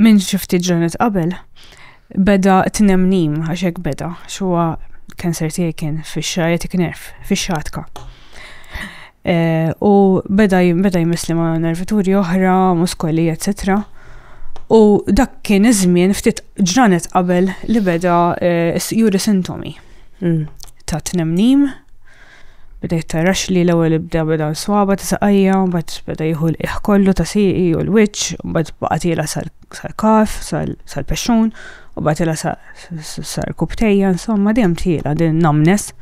Minn xi ftit ġranet qabel beda tnemnim għax hekk beda xuwa kanser tiegħi kien fix-sciatic nerf, fix-xatka. Eh, u beda beda jmissli ma' nervituri oħra, muskoli, etc. U dak kien iż-żmien ftit ġranet qabel li beda eh, juri sintomi mm. ta' tnemnim Bdejt tarax li l-ewwel ibda beda l-swaba ta' saqajja, mbagħad beda jieħu l-qiegħ kollu ta' sieqi u l-wiċċ, mbagħad baqa' tiela sal-kaf, sal-pexxun, u baqa' tiela sar kubtejja, insomma dejjem tiela din numbness.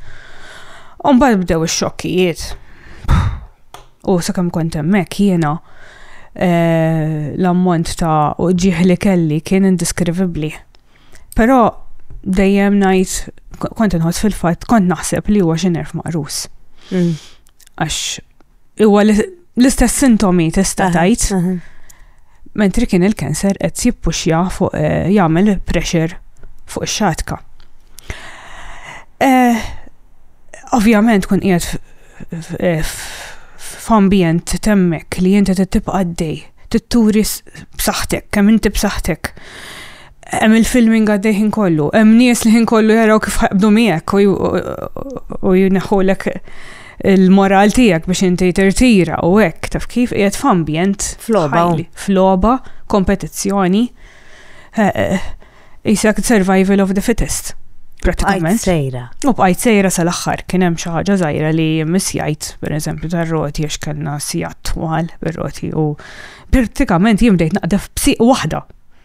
U mbagħad bdew ix-xokkijiet. U sakemm kont hemmhekk jiena eh, l-ammont ta' uġieħ li kelli kien indiskrivibbli. Però dejjem ngħid kont inħoss fil-fatt kont naħseb li huwa xi nerf maqrus. Mm. Għax huwa l-istess sintomi tista' tajt. Mentri kien il-kanser qed jippuxja fuq eh, jagħmel pressure fuq ix-xatka. Eh, ovvjament kun qiegħed eh, f'ambjent temmek li inti tibqa' għaddej, titturi b'saħħtek, kemm inti b'saħħtek. hemm il-filming għaddej ħin kollu, hemm nies li ħin kollu jaraw kif ħaqbdu miegħek u jneħħulek il-moral tiegħek biex inti tirtira u hekk taf kif qiegħed f'ambjent floba floba kompetizzjoni jisek eh, eh, survival of the fittest pratikament. sejra. U bqajt sejra sal-axħar kien hemm xi ħaġa żgħira li misjajt, pereżempju tar-roti għax kellna sijat twal bir-roti u pratikament jimdejt naqdef b'siq waħda